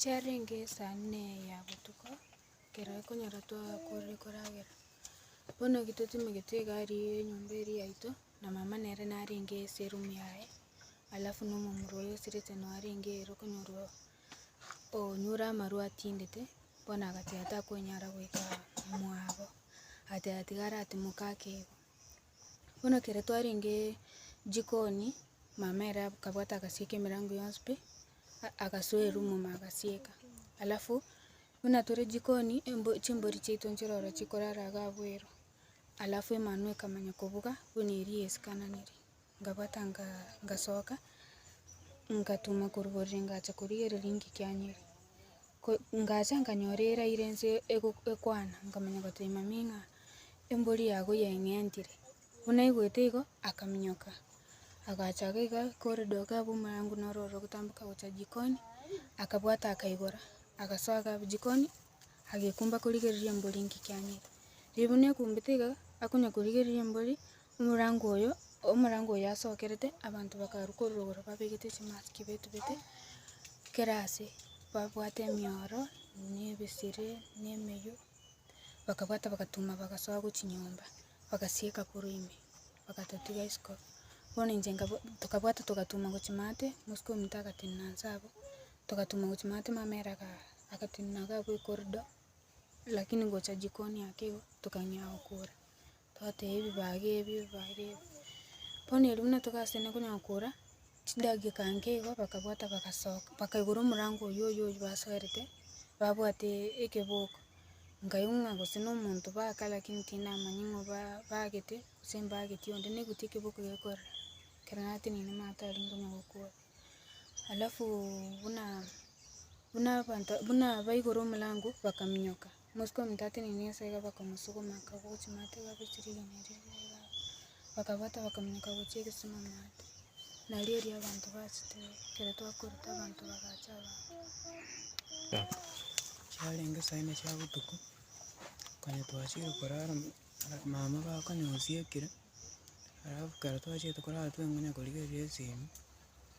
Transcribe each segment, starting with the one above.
Chiarenge esaa ng'ina eya botuko, ekero ekonyora twakorire koragera, bono eki totimogete egari ya enyomba eri yaito, na mama nere narenge ase eroom yaye, alafu na omomura oyo osirete noo arenge ere okonyorwa onyure amarwa atindete, bono agachia takonyara goika mwabo, agachia tiga aratimoka ake. Bono ekero twarenge jikoni, mama ere akabwata agasieka emerango yonsi pi, a- agasoa erumu ma agasieka, alafu buna tore jikoni, embo chimbori chiaito nchire oro chikorara iga abweru, alafu emanwa ekamanya kobuga buna eria yesikananire. Nkabwata ngasoka, ngatuma korwa borere ngacha korigereria ngikianyire. Ngacha nkanyora erairo ense ego- ekwana, nkamanya goteba mami ng'a embori yago yeng'entire. Buna aigwete igo, akaminyoka, agacha iga iga kore doka abwo omorango noro oro ogotamboka gocha jikoni, akabwata akaigora, agasoa ga jikoni, agekumba korigereria embori ngikianyire. Riria buna ekumbete iga, akonya korigereria embori. Omorango oyo, omorango oyo asokerete, abanto bakarwa korwa rogoro babegete chimasiki betubete, kera ase babwate emioro, na ebesire, na emeywo, bakabwata bagatuma bagasoa go chinyomba, bagasieka korwa ime, bagatotiga isiko, bono inche nkabo tokabwata togatuma gochia maate, mosike ominto agatenena inse abwo, togatuma gochia maate mama ere aga agatenena iga abwo ekorido, lakini gocha jikoni ake igo, tokang'ea gokora. Twatee ebibaga ebio bare, bono erio buna togaseene konya kora, chidageka nke igo bakabwata bagasoka, bakaigora omorango oyo oyo oyo basoerete, babwate ekeboko, nkaigwa ng'a gose na omonto baka lakini tindamanya ng'a ba bagete gose mbageti onde, naigweti ekeboko gekorera, ekero nateneniwe mama tari konya gokora. Alafu buna buna abanto buna baigora omorango bakaminyoka. Omosike omonto atenenie ase iga bakamosuguma akagwa chimaate iga agochia rigena erio iga iga iga, bakabwata bakaminyoka gochia egesima maate, nario erio abanto bachete ekero twakorete abanto bagacha abande. Chiarenge saa ime chia botuko, konya twachire korara mo- ara- mama bakonyosia ekira, alafu ekero twachete korara tweng'ina korigereria esimi.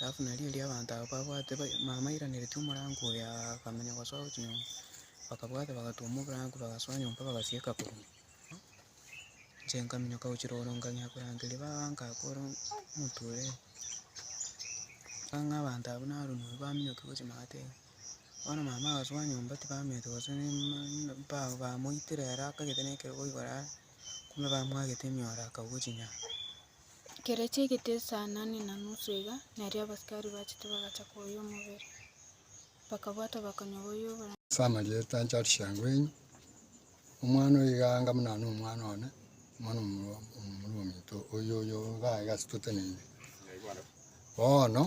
Alafu nario erio abanto abwo babwate mama airaneretie omorango oyo akamenya gosoa gochia nyomba, bakabwata bagatuoma oborango bagasoa nyomba bagasieka korwa. Inche nkaminyoka gochia rogoro nkang'ea korangeria baba nkakora omonto oyo. Ng'ang'a abanto abwo narumia oyio baminyoke gochia magateba, bono mama agasoa nyomba tibamenyete gose ba- bamoitire ere akagete na ekerogo igoro are, kumbe bamwagete emioro akagwa chinyanga. Ekero chiagete esano ne na nusu iga, nario abasikari bachete bagacha koyia omobere, bakabwata bakanywa boyia oboronge. Ase amarieta anche aria chiango enye, omwana oyo iga anga buna nere omwana one, omwana omorwa omorwa ominto oyo oyo iga iga ase toteneine. Bono,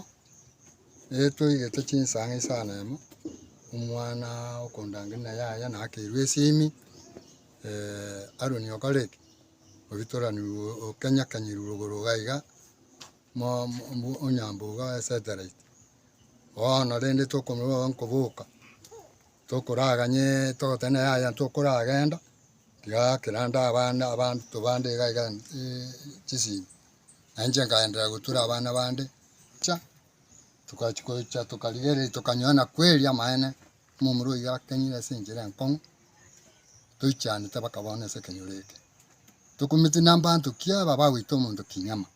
ere toigete chinsang'e isano emo, omwana okondangeria na yaya nakerwa esimi, Aroni okore ki? oritoranigwe okenyakanyerigwe igoro iga iga mo mo onyambe iga oye satellite. Bono rende tokorora oye nkoboka, tokoraganye togoteba naye yaya tokoragenda tiga kera nde abande abanto bande iga iga chisimi. Nainche nkagenderera gotura abana bande, ncha togachi gocha tokarigereria tokanyora na kweri amaene. Momura oyio akenyire ase enchera enkong'u, toichanete mpaka bono ase ekenyoro eke. Tokumeti na mbanto ki aba bagoita omonto kinyama?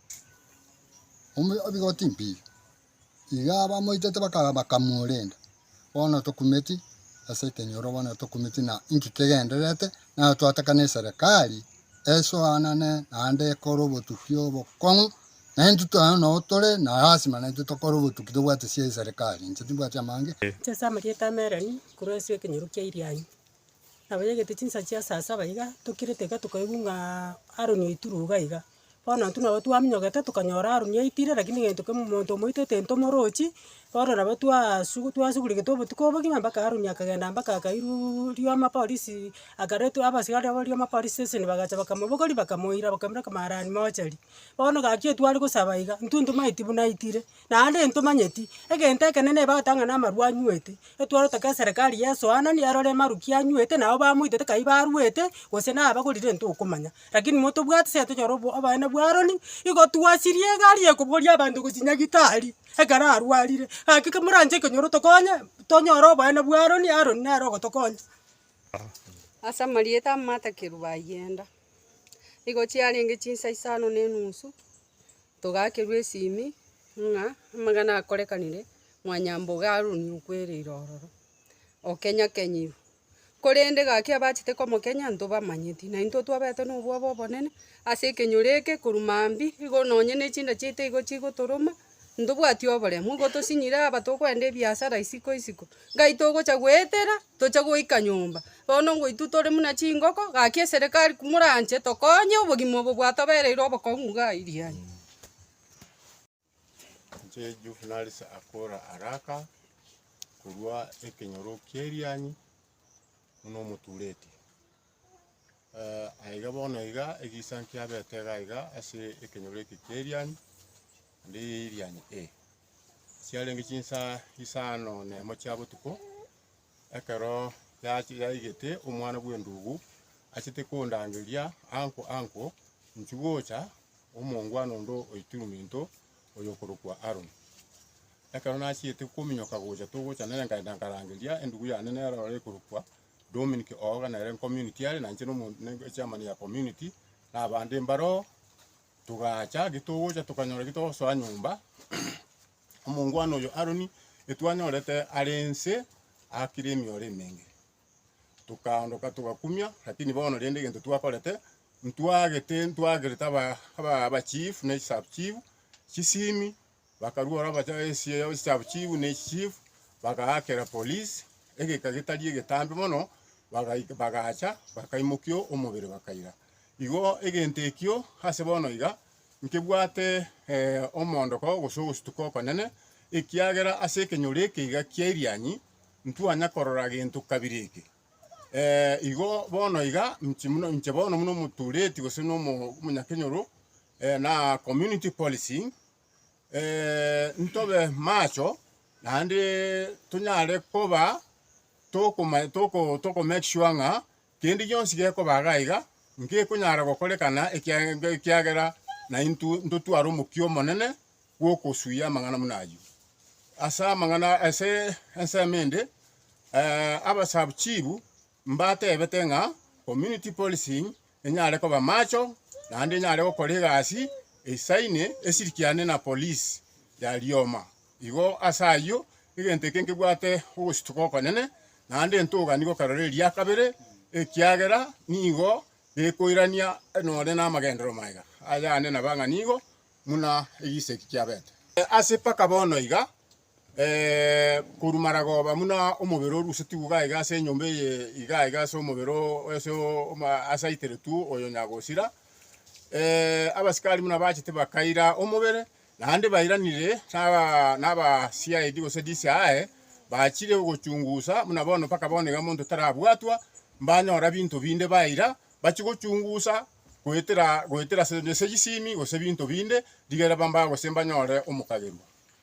Ome ebigoti mbiire. Iga abamoitete baka- bakamorenda. Bono tokumeti ase ekenyoro bono tokumeti na inki kegendererete, naro twatakane eserekari esoanane naende ekore obotukia obokong'u Na intwe tore ang'e nao tore na lasima, na intwe tokore obotuki tobwate sia eserekari. Inche timbwati amang'e. Inche ase amarieta amerani, korwa ase ekenyoru kia Irianyi, na bayaigete chinsa chia saa saba iga, tokirete iga tokaigwa ng'a Aroni oitire iga iga. Bono intwe nabo twaminyogete tokanyora Aroni aitire, lakini gento kemo monto omoito tintomorochi, bono nabo twasugu twasugurigete obotuko obogima mpaka Aroni akagenda mpaka akairwa rioma polisi, akaretwa abasigari abwo rioma polisi station bagacha bakamobogoria bakamoira bakamoraka maarani mochari. Bono gaki etware gosaba iga, intwe ntomaeti buna aitire, naende ntomanyeti, egento ekenene ebagete ang'ana amarwa anywete, etware gotaka eserekari ya esoanani erore maruki anywete nabo bamoitete kai barwete, gose na abagorire ntokomanya. Rakini motobwati se tonyore obo oboene bwa Aroni, igo twasirie egari ekobogoria abanto gose nyagitari, ekero arwarire, gaki komoranche ekonyoro otokonye, tonyore oboene bwa Aroni, Aroni nere ogotokonya. Ase amarieta amatakerwa bayienda. Nigo chiarenge chinsa isano na enusu, togaakerwa esimi ng'a amang'ana akorekanire mwanyambogo Haruni okwereire ororo, okenyakenyirwe. Korende gaki abachete komokenya ntobamanyeti, na intwe twabete nobwoba obonene ase ekenyoro eke korwa mambia igo nonye ne chinda chiaito igo chigotoroma. Ntobwati oboremu, nigo tosinyire aba tokoenda ebiasara isiko isiko. Gai togocha goetera, toche goika nyomba. Bono ngoitwe tore muna chingoko, gaki eserekari moranche tokonye obogima obo bwatobereire obokong'u iga airiani. Inche Juvenalisi akore araka korwa ekenyoro ki'erianyi buna omotureti. Aiga bono iga egesangi kiabete iga iga ase ekenyoro eke kia Erianyi, naende eye Erianyi ee. Chiarenge chinsaa isano na emo chia botuko, ekero yachi- yaigete omwana bw'endugu achete kondangeria anko anko, inchuo gocha omongwana ondo oituruma into oyo okorokwa Aaron. Ekero nachiete kominyoka gocha togocha nere nkaenda nkarangeria endugu yane nero ore ekorokwa Dominic Ooga nere community are na inche nomo ne chairman ya community na abande mbaroo togacha eki togocha tokanyora eki togosoa nyomba omongwana oyo Aaron etwanyorete are nse akire emioro emenge tokaondoka togakumia lakini bono rende egento twakorete ntwagete ntwagerete aba aba aba chief ne sub chief chisimi. Bakaruora bacha ense ya chisabu chiibu ne chichifu, bagaakera polisi egeka getari egetambe mono, bagaika bagacha bakaimokia omobere bakaira. Igo egento ekio ase bono iga nkebwate omoondoko gose ogosutuka okonene, ekiagera ase ekenyoro eke iga kia Irianyi ntwanya korora gento kabiri eke. Igo bono iga nchi buna inche bono buna omotureti gose na omo omonyakenyoro na community policing. ntobe macho, naende tonyare koba tokoma toko toko make sure ng'a kende gionsi gekoba iga iga, ngekonyara gokorekana ekiage ekiagera naintwe ntotware omokia omonene bw'okosuia amang'ana buna ayio. Ase amang'ana ase ensemo ende abasabi chifu. Mbatebete ng'a community policing enyare koba macho naende enyare gokora egasi eisaine esirikiane na police ya rioma. Igo ase ayio egento eke nkebwate ogochituka okonene naende ntogani gokarora eria kabere ekiagera nigo gekoirania nore namagenderero maega ayane nabang'ani igo muna egisegi kiabete. Ase mpaka bono iga korwa maragoba buna omobere orusetigwe iga iga ase enyomba eye iga iga ase omobere o ase ase aiteretwe oyo nyagosira, abasikari buna bachete bakaira omobere, naende bairanire naba naba CID gose DCI, bachire ogochungusa buna bono mpaka bono iga monto tarabwatwa, mbanyora binto binde baira, bachie gochungusa goetera goetera ase ase chisimi gose binto binde, rigere bambae gose mbanyore omokagerwa.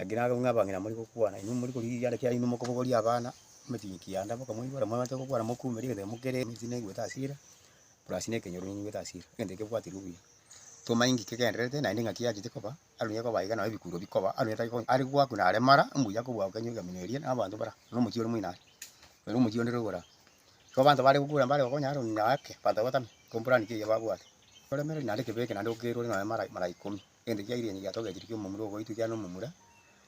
Ekero naro ng'a abang'ina more gokwana, inwe more korigigiana ekiagera inwe mokobogoria abana emechie kianda, mokamoibora, mwamate gokwana mokumera egento ekero mokere emichi neigwete ase ira, burasi na ekenyoro neigwete ase ira, egento eke bwaterwa buya. Toma enki kegendererete naende ng'aki yachete koba, aru nigo ekoba iga nabo ebikuro bikoba, aru nigo takonya are gwakuna are mara, mbuya kobua okenye egeminyo eria na abanto bara, na omochie ore moino are, ere omochie onde rogoro aa. Igo abanto bare gokura mbare gokonya Aroni na ake, abanto bagotamia, ekomporani keyio babwate, oremere naende kebe eke naende okeirwe ore nonya mara mara ikomi. Egento kiairenge giatogetie kia omomura ogoitwa ekiagera nomomura,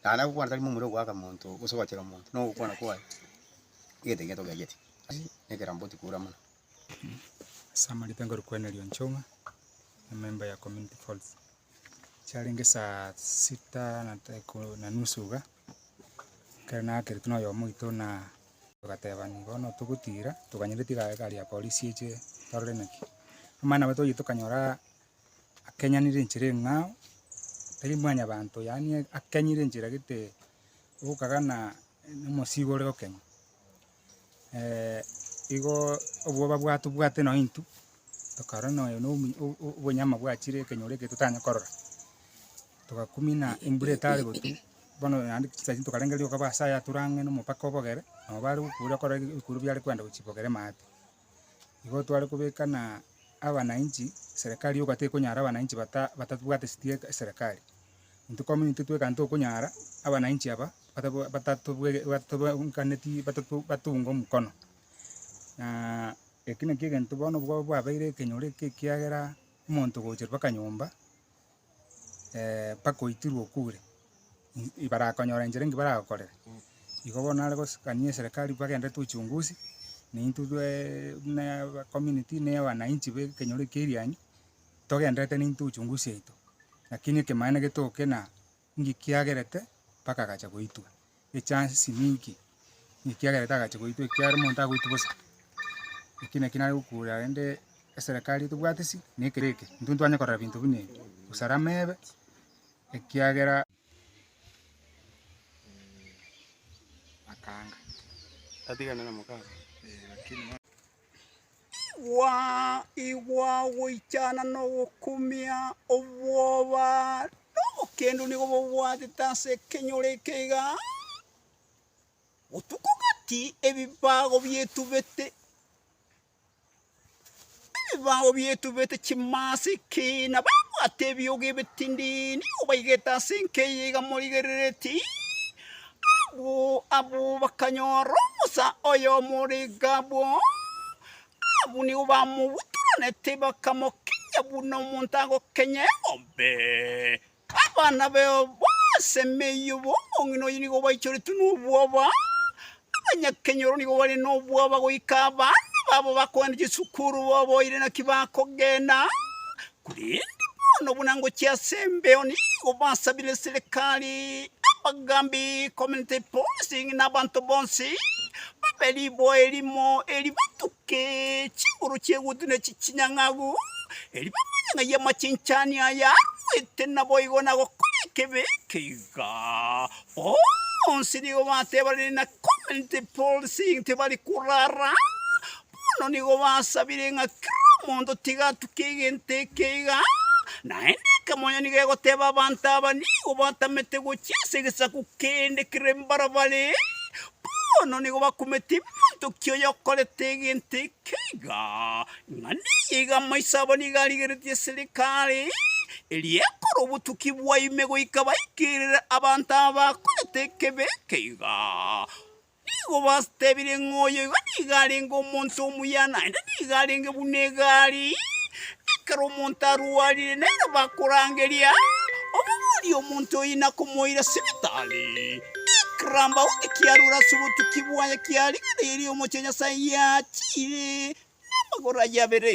na naye ogokwana tari momura ogoaka monto gose ogochera omonto, na ogokwana kwaye egento ekiya togeageti. Ekerambe otiga kora mono. Ase amarita nkore Cornelio Njung'a, ememba ya Community Falls. Chiarenge saa sita na daika- na nusu iga, ekero naakerete na oyomo oito na togatebania bono togotira, tokanyora tigari ya polisi eche torore naki. Amang'ana aria twayia tokanyora akenyanire enchera eng'ao, tari mwanyabanto yaani akenyire enchera gete ogokagana nomosiigo ore gokenya. igo obwoba bwa tobwate nonye intwe, tokarora nonye na omu o- o- obonyama bwachire ekenyoro eke totanye korora, togakumina embura etare gotwa, bono naende chisake chinde tokarenge rioka ase aya atorange nomopaka obogere, nabo bare gokuura korora ebi- ebikuuru biare koenda gochia bogere maate. igo tware kobeka na abanainchi, serikari yoka tekonyara abanainchi bata batabwate siti eke eserekari. Intwe kominto intwe tweka ntokonyara abanainchi aba batabwa batatobwege batobwe nkaneti batato batoungo mokono. Na eki nakio egento bono bwa bwabeire ekenyoro eke ekiagera omonto ogocha mpaka nyomba. mpaka oitirwe okure, i- ibarakonyora enchera enki baragokorere. Igo bono nare gosikania eserekari bagende tuchungusi, na intwe tweeee buna aba community na wananchi be ekenyoro ekia Irianyi, togendererete na intwe uchungusi yaito, lakini ekemaene getokina, ngikiagerete mpaka agacha goitwa. echansi nyinki, ekiagera etagachia goitwa ekiagera omonto agoitwa bosa. Eki naki nare gokora rende eserekari tobwati ase na ekere eke, intwe ntitwanye korora binto buna ebi, usalama ebe ekiagera. Igwa, igwa ogoichana na ogokumia, obwoba, na obokendu nigo bobwatete ase ekenyoro eke iga aaaa, botuko gati ebibago bietubete, ebibago bietubete chimasiki, na babwate ebiogo ebitindii nigo baigete ase enka eye iga morigereretie iiiii. Abwo bakanyora omosa oy'omorega abwo, abwo nigo bamogweteranete, bakamokenya buna omonto agokenya eng'ombe. Abana baye bonsi emeyio b'omong'ina oyio nigo baichoretwe nobwoba, abanyakenyoro nigo bare nobwoba goika abana babo bakoenda chisukuru boboire naki bakogenda, Korende bono buna ngochia ase embeo nigo basabire serikari, abagambi, community policing, na abanto bonsi babe riboa erimo eri batuke chinguru chi'egutu ne chinyang'agu, eri bamanye ng'ai amachinchani aya arwete naboigo na gokora ekebi eke iga. Bonsi nigo batebanire na community policing tibari korara Bono nigo basabire ng'a kera omonto tiga atuke egento eke iga, naende ekemonya nigo egoteeba abanto aba nigo batamete gochia ase egesaku kende kere embarabare, bono nigo bakumete ebimonto ki oyokorete egento eke iga, ng'a neye iga amaiso abo nigo arigeretie eserikari, eria ekore obotuki bwa ime goika baikerere abanto aba bakorete ekeebe eke iga. Nigo bastebirie ng'a oyo iga nigo arenge omonto omuya, naende nigo arenge buna egari, ekero omonto arwarire, nere bakorangeria, Omobori omonto oyo ina komoira sibitari. Ekiramba onde kiarure ase obotuki bwaye kia rigena eye ri'omochie Nyasae yachiire namagoro aye abere.